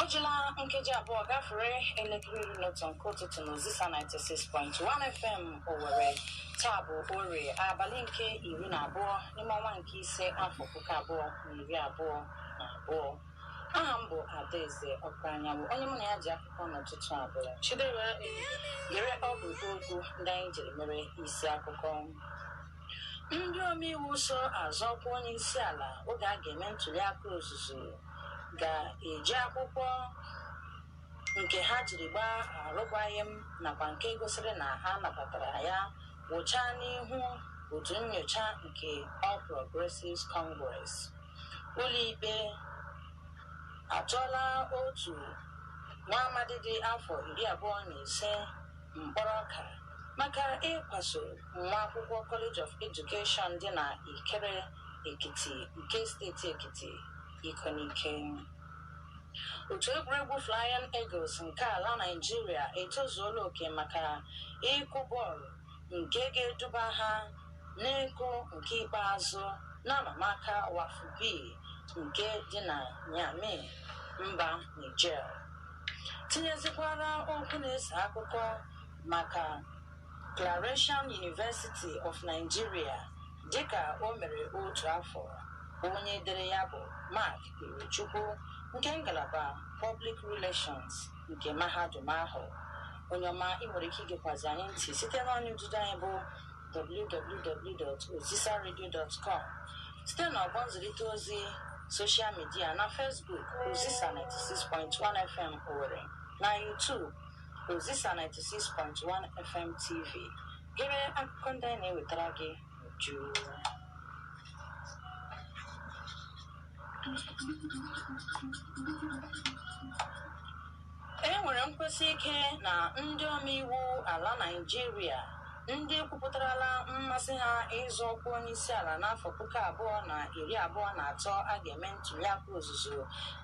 O jila nkeji abụọ gafere elekere iri na otu nke ụtụtụ na Ozisa 96.1 FM Owerri. Taa bụ Orie, abalị nke iri na abụọ n'ime ọnwa nke ise afọ puku abụọ na iri abụọ na abụọ. Aha m bụ Adaeze Ọkụ Anyanwụ, onye mụ na ya ji akụkọ n'ụtụtụ a bụ Chidera Gere ọ bụ okwu ndị anyị jiri mere isi akụkọ. Ndị omeiwu so azọ ọkwa onye isi ala oge a ga-eme ntuli aka ozuzu ga-eji akwụkwọ nke ha jiri gbaa arụkwaghịm nakwa nke gosiri na ha nabatara ya wụchaa n'ihu otu nnyocha nke All Progressives Congress. Ụlọikpe atụọla otu nwa amadi dị afọ iri abụọ na ise mkpọrọ ọka maka ịkwaso nwa akwụkwọ College of Education dị na Ikere Ekiti nke steeti Ekiti iko n'ike. Otu egwuregwu Flying Eagles nke ala Naịjirịa etozuola oke maka ịkụ bọọlụ nke ga-eduba ha n'ịkụ nke ikpeazụ n'amamaka WAFU B nke dị na Niamey, mba Niger. Tinyezikwara okwu na-eso akụkọ maka Claretian University of Nigeria dịka o mere otu afọ onye dere ya bụ Mark Irechukwu nke ngalaba Public Relations nke mahadum ahụ onye ọma ị nwere ike igekwazi anyị ntị site n'ọnya ududo anyị bụ www.ozisaradio.com site na ọgbọ nzirịta ozi soshal midia na Facebook Ozisa 96.1 FM Owerri na YouTube Ozisa 96.1 FM TV Gere akụkọ ndị anyị na-ewetara gị n'uju. E nwere nkwusi ike na ndị omeiwu ala Naịjirịa ndị kwupụtarala mmasị ha ịzọ ọkwa onye isi ala n'afọ puku abụọ na iri abụọ na atọ a ga-eme ntuliaka ozuzu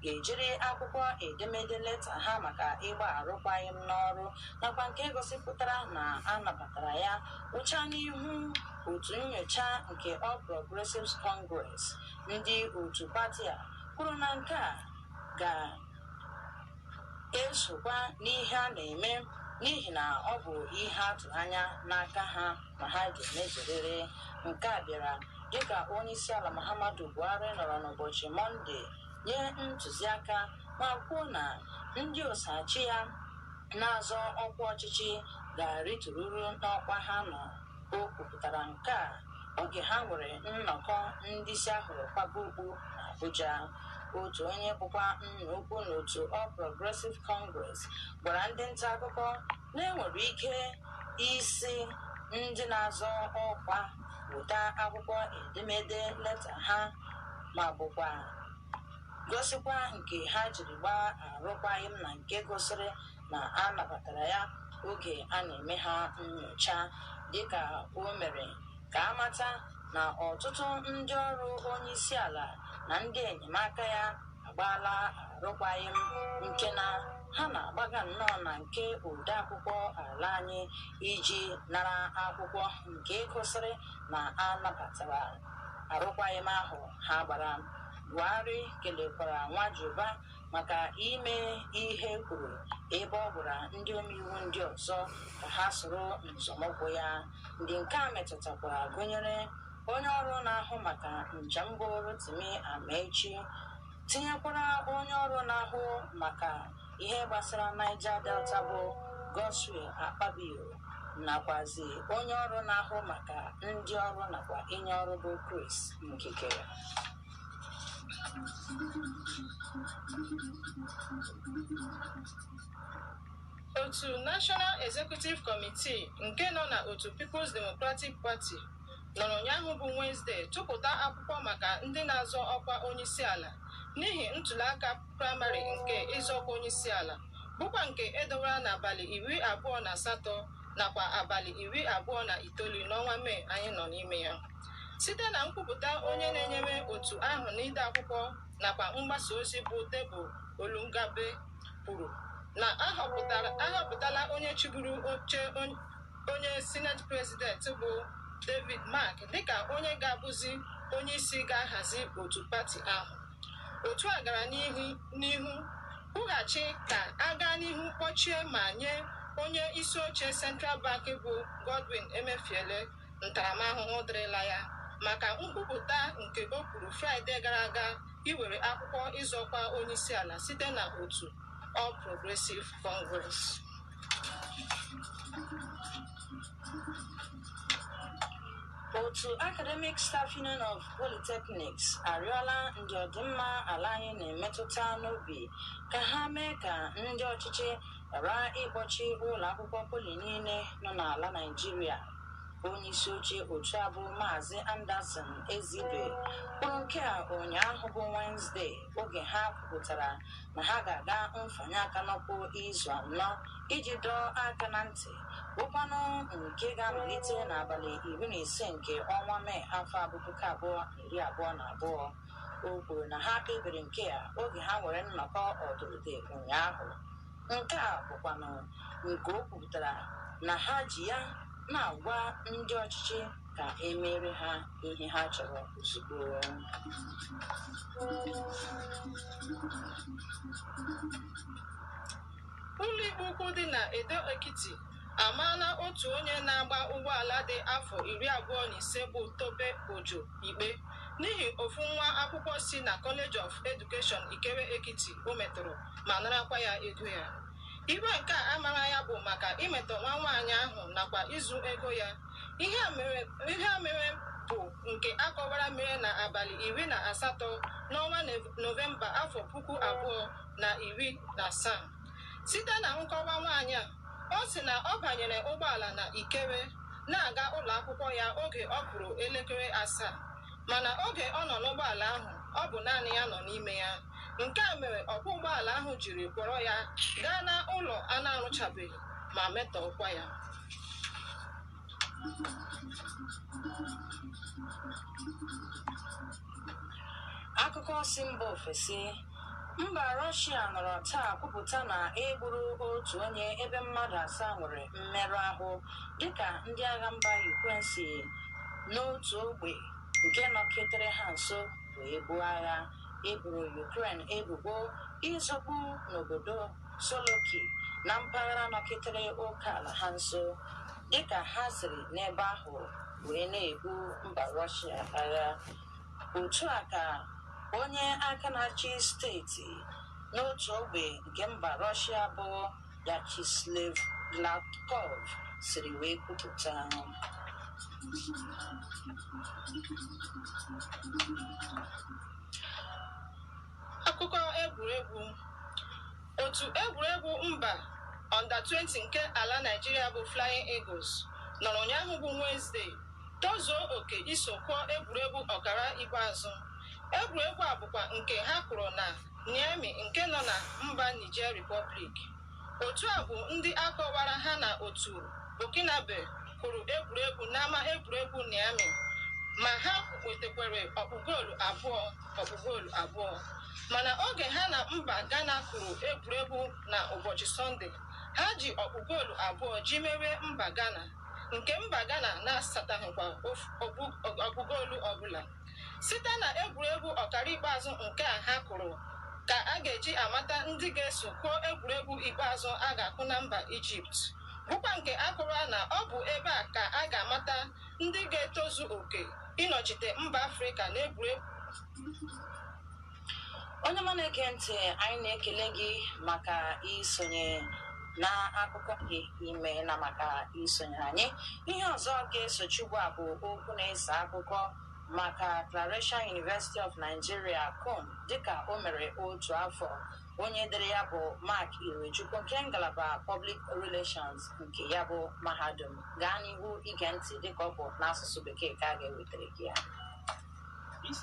ga-ejiri akwụkwọ edemede leta ha maka ịgba arụkwaghịm n'ọrụ nakwa nke gosipụtara na a nabatara ya wụchaa n'ihu otu nnyocha nke All Progressives Congress ndị otu pati a kwuru na nke a ga-esokwa n'ihe a na-eme n'ihi na ọ bụ ihe a tụ anya n'aka ha ma ha ga-emezurịrị nke a bịara dịka onyeisiala Muhammadu Buhari nọrọ n'ụbọchị Mọnde nye ntuziaka ma kwuo na ndị oso achị ya na-azọ ọkwa ọchịchị ga-arịtururu n'ọkwa ha nọ o kwupụtara nke a oge ha nwere nnọkọ ndị isi ahụrụ kwaba okpu n'Abuja otu onye bụkwa nna ukwu n'otu All Progressive Congress gwara ndị nta akụkọ na enwere ike ịsị ndị na-azọ ọkwa weta akwụkwọ edemede leta ha ma bụkwa gosikwa nke ha jiri gbaa arụkwaghịm na nke gosiri na a nabatara ya oge a na-eme ha nnyocha dịka o mere ka a mata na ọtụtụ ndị ọrụ onye isi ala na ndị enyemaka ya agbaala arụkwaghịm nke na ha na-agbaga nnọọ na nke odeakwụkwọ ala anyị iji nara akwụkwọ nke gosiri na a nabatara arụkwaghịm ahụ ha gbara Buhari kelekwara Nwajiuba maka ime ihe e kwuru ebe ọ gwara ndị omeiwu ndị ọzọ ka ha soro nzọmụkwụ ya. Ndị nke a metụtakwara gụnyere onye ọrụ na-ahụ maka njem bụ Rotimi Amaechi tinyekwara onye ọrụ na-ahụ maka ihe gbasara Niger Delta bụ Godswill Akpabio nakwazi onye ọrụ na-ahụ maka ndị ọrụ nakwa inye ọrụ bụ Chris Ngige otu National Executive Committee nke nọ na otu People's Democratic Party nọrọ ụnyaahụ bụ Wednesday tụpụta akwụkwọ maka ndị na-azọ ọkwa onyeisiala n'ihi ntụliaka praịmarị nke ịzọ ọkwa onyeisiala bụkwa nke edowara n'abalị iri abụọ na asatọ nakwa abalị iri abụọ na itoolu n'ọnwa mee anyị nọ n'ime ya site na nkwupụta onye na-enyere otu ahụ n'ide akwụkwọ nakwa mgbasa ozi bụ Debo Olungabe kwuru na ahọpụtala onye chịburu oche onye sineti president bụ David Mark dịka onye ga-abụzi onye isi ga-ahazi otu pati ahụ Otu a gara n'ihu kwughachi ka a gaa n'ihu kpọchie ma nye onye isi oche Central Bank bụ Godwin Emefiele ntaramahụhụ dịrịla ya maka nkwupụta nke o kwuru Fraịde gara aga iwere akwụkwọ ịzọ ọkwa onyeisiala site na otu All Progressive Congress. otu Academic Staff Union of Polytechnics arịọla ndị ọdịmma ala anyị na-emetụta n'obi ka ha mee ka ndị ọchịchị ghara ịkpọchi ụlọ akwụkwọ poli niile nọ n'ala Naịjirịa onye isi oche otu a bụ maazị Anderson Ezeibe kwuru nke a ụnyaahụ bụ Wednesday oge ha kwupụtara na ha ga-aga mfanye aka n'ụkwụ izu anọ iji dọọ aka na ntị bụkwanụ nke ga-amalite n'abalị iri na ise nke ọnwa mee afọ a bụ puku abụọ na iri abụọ na abụọ o kwuru na ha kpebiri nke a oge ha nwere nnọkọ ọdụrụde ụnyaahụ nke a bụkwanụ nke o kwupụtara na ha ji ya na-agwa ndị ọchịchị ka e meere ha ihe ha chọrọ ozugbo. Ụlọikpe ukwu dị na Ado Ekiti amaala otu onye na-agba ụgbọala dị afọ iri abụọ na ise bụ Tope Ojo ikpe n'ihi ofu nwa akwụkwọ si na College of Education Ikere Ekiti o metọrọ ma narakwa ya ego ya. Ikpe nke a a mara ya bụ maka imetọ nwa nwaanyị ahụ nakwa izu ego ya Ihe a mere bụ nke a kọwara mere na abalị iri na asatọ n'ọnwa Nọvemba afọ puku abụọ na iri na asaa. Site na nkọwa nwaanyị a, ọ sị na ọ banyere ụgbọala na Ikere na-aga ụlọ akwụkwọ ya oge ọ kụrụ elekere asaa. Mana oge ọ nọ n'ụgbọala ahụ, ọ bụ naanị ya nọ n'ime ya. Nke a mere ọkwọ ụgbọala ahụ jiri kpọrọ ya gaa n'ụlọ a na-arụchabeghị ma metọọkwa ya. akụkọ si mba ofesi mba rọshia nọrọ taa kwupụta na e gburu otu onye ebe mmadụ asaa nwere mmerụ ahụ dịka ndị agha mba ukren si n'otu ogbe nke nọketere ha nso wee buo agha e boro ukren ebubo ịzọgbu n'obodo Solokhi na mpaghara nọketere oke ala ha nso dịka ha siri n'ebe ahụ wee na-ebu mba Rọshịa agha. Otu a ka onye aka na-achị steeti n'otu ogbe nke mba Rọshịa bụ Vyacheslav Gladkov siri wee kwupụta. Akụkọ egwuregwu Otu egwuregwu mba Under 20 nke ala Naịjirịa bụ Flying Eagles nọrọ ụnyaahụ bụ Wenesde tozuo oke iso kụọ egwuregwu ọkara ikpeazụ. Egwuregwu a bụkwa nke ha kụrụ na Niamey nke nọ na mba Niger Republic. Otu a bụ ndị a kọwara ha na otu Burkinabe kụrụ egwuregwu n'ama egwuregwu Niamey ma ha nwetakwara ọkpụ goolu abụọ. ọkpụ goolu abụọ mana oge ha na mba Ghana kụrụ egwuregwu na ụbọchị Sọnde ha ji ọkpụ goolu abụọ ji merie mba Ghana nke mba Ghana na-asataghịkwa ọkpụ goolu ọbụla site na egwuregwu ọkara ikpeazụ nke a ha kụrụ ka a ga-eji amata ndị ga-eso kwuo egwuregwu ikpeazụ a ga-akụ na mba Ijipt bụkwa nke a kụrụ na ọ bụ ebe a ka a ga-amata ndị ga-etozu oke ịnọchite mba afrịka n'egwuregwu onye ọma na-ege ntị anyị na-ekele gị maka isonye na akụkọ gị imeela maka isonye anyị ihe ọzọ ga-esochi ugbu a bụ okwu na-eso akụkọ maka Claretian University of Nigeria CUN dịka o mere otu afọ onye dere ya bụ Mark Irechukwu nke ngalaba Public Relations nke ya bụ mahadum gaa n'ihu ige ntị dịka ọ bụ n'asụsụ bekee ka a ga-ewetara gị ya